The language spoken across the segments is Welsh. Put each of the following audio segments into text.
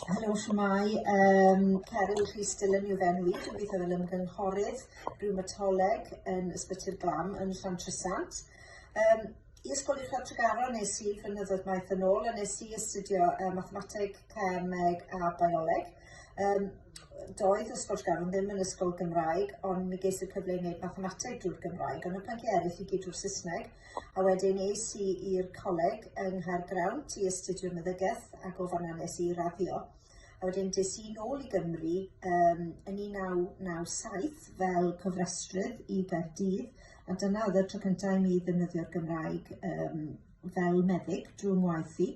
Helo shwmae, yym Cerwyn Rhys Dillon yw fe nhw i, dwi'n gweithio fel ymgynghorydd rhywmatoleg yn Ysbyty'r Glam yn Llantrisant. Um, I ysgol uwchradd Tregaron nes i flynyddoedd maith yn ôl a nes i astudio uh, mathemateg, cemeg a bioleg. Um, doedd ysgol Tregaron ddim yn ysgol Gymraeg, ond mi ges i'r cyfle i wneud mathemateg drwy'r Gymraeg, ond y pynciau eraill i gyd drwy'r Saesneg. A wedyn es i i'r coleg yng Nghaergrawnt i astudio meddygaeth ac o fanna nes i raddio. A wedyn des i nôl i Gymru um, yn 1997 fel cofrestrydd i Gaerdydd, a dyna oedd y tro cyntaf i mi ddefnyddio'r Gymraeg um, fel meddyg drwy'n ngwaith i.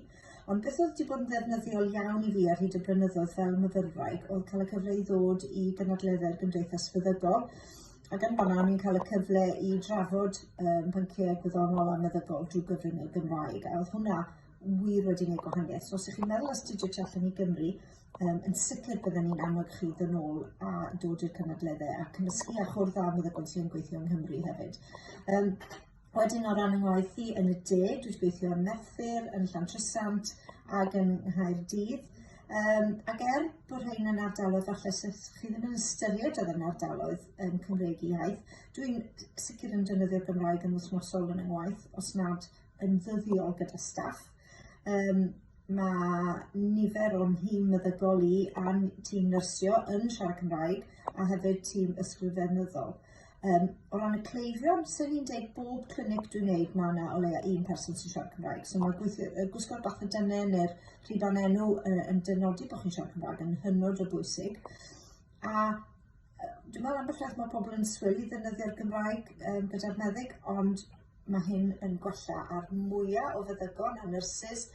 Ond beth oedd wedi bod yn ddefnyddiol iawn i fi ar hyd y blynyddoedd fel myfyrwraig oedd cael y cyfle i ddod i gynadleddau'r Gymdeithas Feddygol Ac yn fanna, ni'n cael y cyfle i drafod um, pynciau gwyddonol a meddygol drwy gyfrwng y Gymraeg. A oedd hwnna wir wedi gwneud gwahaniaeth. So os ydych chi'n meddwl astudio tu allan i Gymru, um, yn sicr byddwn ni'n annog chi ddyn ôl a dod i'r cynadleddau a cymysgu a chwrdd â meddygon sy'n gweithio yng Nghymru hefyd. Um, Wedyn o ran yng ngwaith i yn y de, dwi wedi gweithio yn Merthyr, yn Llantrisant ac yn Nghaerdydd. Um, ac er bod rhain yn ardaloedd falle sydd chi ddim yn ystyried oedd yn ardaloedd yn um, Cymreig iaith, dwi'n sicr yn defnyddio'r Gymraeg yn wythnosol yn yngwaith, os nad yn ddyddiol gyda staff. Um, mae nifer o'n nhîm meddygol i a'n tîm nyrsio yn siarad Cymraeg a hefyd tîm ysgrifennyddol. Um, o ran y cleifion, sy'n ni'n dweud bob clinic dwi'n neud mae yna o leia un person sy'n siarad Cymraeg. So mae gweithio, y gwisgo'r bach y dyne neu'r rhiban enw uh, yn dynodi bod chi'n siarad Cymraeg yn hynod o bwysig. A dwi'n meddwl am bethau mae pobl yn swil i ddefnyddio'r Gymraeg um, gyda'r meddyg, ond Mae hyn yn gwella ar mwya o feddygon a nyrsys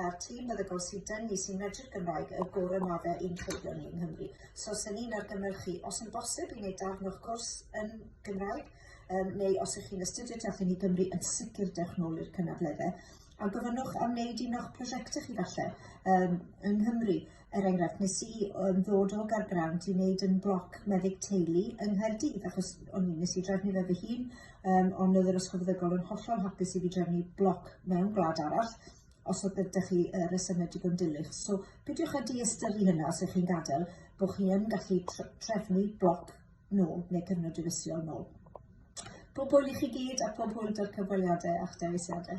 a'r tîm meddygol sy'n dynnu, sy'n medru'r Gymraeg, y gorau mae fe i'n cleifion ni yng Nghymru. So, sy'n ni'n argymell chi, os yn bosib, i wneud darn o'ch cwrs yn Gymraeg, um, neu os ych chi'n astudio tu allan i Gymru, yn sicr dewch nôl i'r cynadleddau a gofynnwch am wneud un o'ch prosiectau chi falle um, yng Nghymru. er enghraifft nes i yym ddod o Gaergrawnt i neud yn bloc meddyg teulu yng Nghaerdydd achos o'n i nes i drefnu fe fy hun yym ond o'dd yr ysgol feddygol yn hollol hapus i fi drefnu bloc mewn gwlad arall os o'dd gyda chi yy resyme digon dilys so peidiwch â diystyru hynna os y'ch chi'n gadel bo' chi yn gallu tr- trefnu bloc nôl neu cyfnod diwylliol nôl. Pob hwyl i chi gyd a pob hwyl 'da'r cyfweliade a'ch dewisiade.